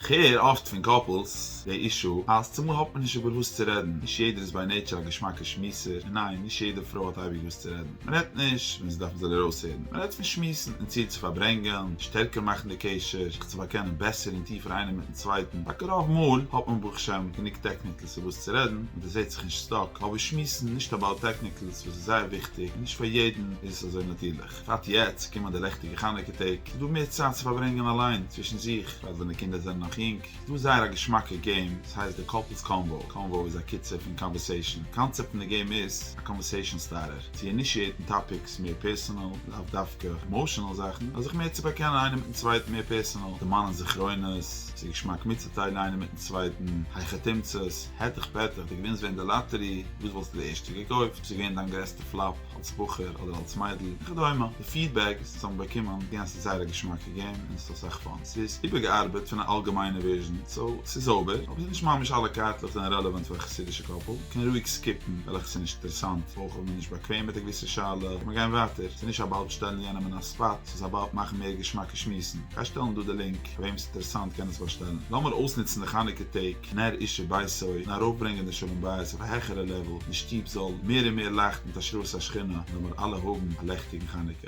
כ'הער אפט פון קאפלס די אישו אז צומאל האט מען נישט איבער וואס צו רעדן, נישט יעדער איז ביי נעיטשער א געשמאקע שמועסער, און ניין נישט יעדע פרוי האט אייביג וואס צו רעדן, מען רעדט נישט ווען זי דארף מען זאל ארויסהערן, מען רעדט פון שמועסן און צייט צו פארברענגען, שטערקער מאכן די קשר, זיך צו באקענען בעסער און טיפער איינער מיטן צווייטן, טאקע רוב מאל האט מען ברוך שם גענוג טעקניקלס איבער וואס צו רעדן און דערזעט זיך נישט סטאק, אבער שמועסן נישט אבאוט טעקניקלס וואס איז זייער וויכטיג און נישט פאר יעדן איז עס אזוי נאטירליך. בפרט יעצט קומען די לעכטיגע חנוכה טעג, איז דא מער צייט צו פארברענגען אליין, צווישן זיך, בפרט ווען די קינדער זענען נאך יונג, איז דא זייער א געשמאקע געים, עס הייסט די קאפלס קאנוואו, קאנוואו איז א קיצור פון קאנווערסעישאן, די קאנצעפט פון די געים איז, א קאנווערסעישאן סטארטער, צו אינישיעיטן טאפיקס, מער פערסאנעל, לאו דווקא עמאשענעל זאכן, נאר זיך מער צו באקענען איינער מיטן צווייטן מער פערסאנעל, דערמאנען זכרונות, עס איז געשמאק מיטצוטיילן איינער מיטן צווייטן, הייכע תמצות, העטעך פעטעך, די געווינס ווען די לאטערי, וואס וואלסטו די ערשטע געקויפט? וואס איז געווען דיין גרעסטע פלאפ? אלס בחור אדער אלס מיידל וכדומה, די פידבעק וואס אונז האבן באקומען גענ ס איז זייער א געשמאקע געים און עס האט אסאך פאן, ס'איז איבערגעארבעט פון א אלגעמיינע ווערזשען סאו ס'איז זויבער, אבער ס'איז נישט ממש אלע קארטלעך זענען רעלעוואנט פאר א חסידישע קאפל, מ'קען רואיג סקיפן וועלכע ס'איז נישט אינטערעסאנט, אויך אויב מ'איז נישט באקוועם מיט א געוויסע שאלה קען מען גיין ווייטער, ס'איז נישט אבאוט שטעלן יענעם אין א ספאט, ס'איז אבאוט מאכן מער געשמאקע שמועסן, גיי שטעלן דא די לינק, פאר וועם ס'איז אינטערעסאנט קען עס באשטעלן, לאמיר אויסנוצן די חנוכה טעג. כנר אישי ביתו, און ארויפברענגען די שלום בית אויף א העכערע לעוועל, די שטוב זאל מער און מער לייכטן מיט השראת השכינה, און לאמיר אלע האבן א לעכטיגן חנוכה.